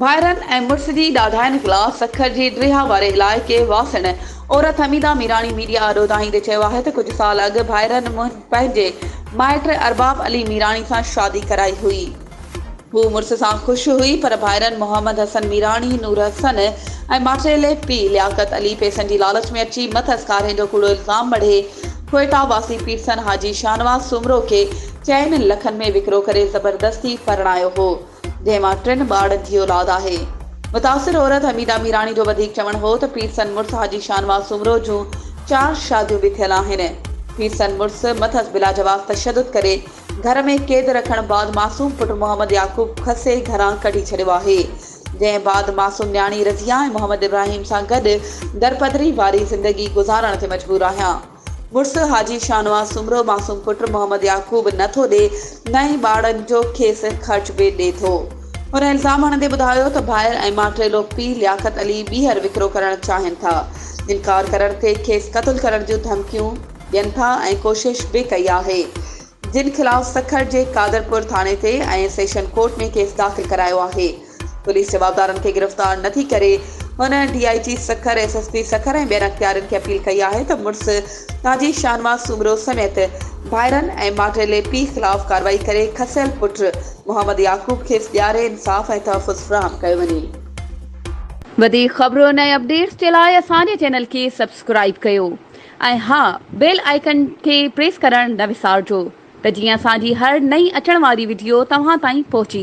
ڀائرن ۽ مڙس جي ڏاڍاين خلاف سکر جي ڊريها واري علائقي واسڻ عورت حميده ميراڻي ميڊيا آڏو دانهيندي چيو آهي ته ڪجهه سال اڳ ڀائرن پنهنجي مائٽ ارباب علي ميراڻي سان شادي ڪرائي هئي، هوء مڙس سان خوش هئي پر ڀائرن محمد حسن ميراڻي، نور حسن ۽ ماٽيلي پيء لياقت علي پئسن جي لالچ ۾ اچي مٿس ڪارهين جو ڪوڙو الزام مڙهي ڪوئيٽا واسي پيرسن حاجي شاهنواز سومرو کي چئن لکن ۾ وڪرو ڪري زبردستي پرڻايو هو جنهن مان ٽن ٻارڙن جي اولاد آهي. متاثر عورت حميده ميراڻي جو وڌيڪ چوڻ هو ته پيرسن مڙس حاجي شاهنواز سومرو جون چار شاديون به ٿيل آهن پيرسن مڙس مٿس بلاجواز تشدد ڪري گهر ۾ قيد رکڻ بعد معصوم پٽ محمد يعقوب کسي گهران ڪڍي ڇڏيو آهي، جنهن بعد معصوم نياڻي رضيه ۽ محمد ابراهيم سان گڏ درپدري واري زندگي گذارڻ تي مجبور آهيان. مڙس حاجي شاهنواز سومرو معصوم پٽ محمد يعقوب نه ٿو ڏي نه ئي ٻارڙن جو کيس خرچ به ڏي ٿو. هن الزام هڻندي ٻڌايو ته ڀائر ۽ ماٽيلو پيء لياقت علي ٻيهر وڪرو ڪرڻ چاهين ٿا، انڪار ڪرڻ تي کيس قتل ڪرڻ جون ڌمڪيون، ڏين ٿا ۽ ڪوشش به ڪئي آهي جن خلاف سکر جي قادرپور ٿاڻي تي ۽ سيشن ڪورٽ ۾ ڪيس داخل ڪرايو آهي پوليس جوابدارن کي گرفتار نه ٿي ڪري هن D I G Sukkur S S P Sukkur ۽ ٻين اختيارين کي اپيل ڪئي آهي ته مڙس تاجي شاهنواز سومرو سميت ڀائرن ۽ ماٽيلي پيء خلاف ڪاروائي ڪري کسيل پٽ محمد يعقوب کيس ڏياري انصاف ۽ تحفظ فراهم ڪيو وڃي. وڌيڪ خبرون ۽ اپڊيٽس جي لاء اسان جي چينل کي سبسڪرائيب ڪيو. ۽ ها بيل آئيڪن کي پريس ڪرڻ نه وسارجو ته جيئن اسان جي هر نئين اچڻ واري وڊيو توهان تائين پهچي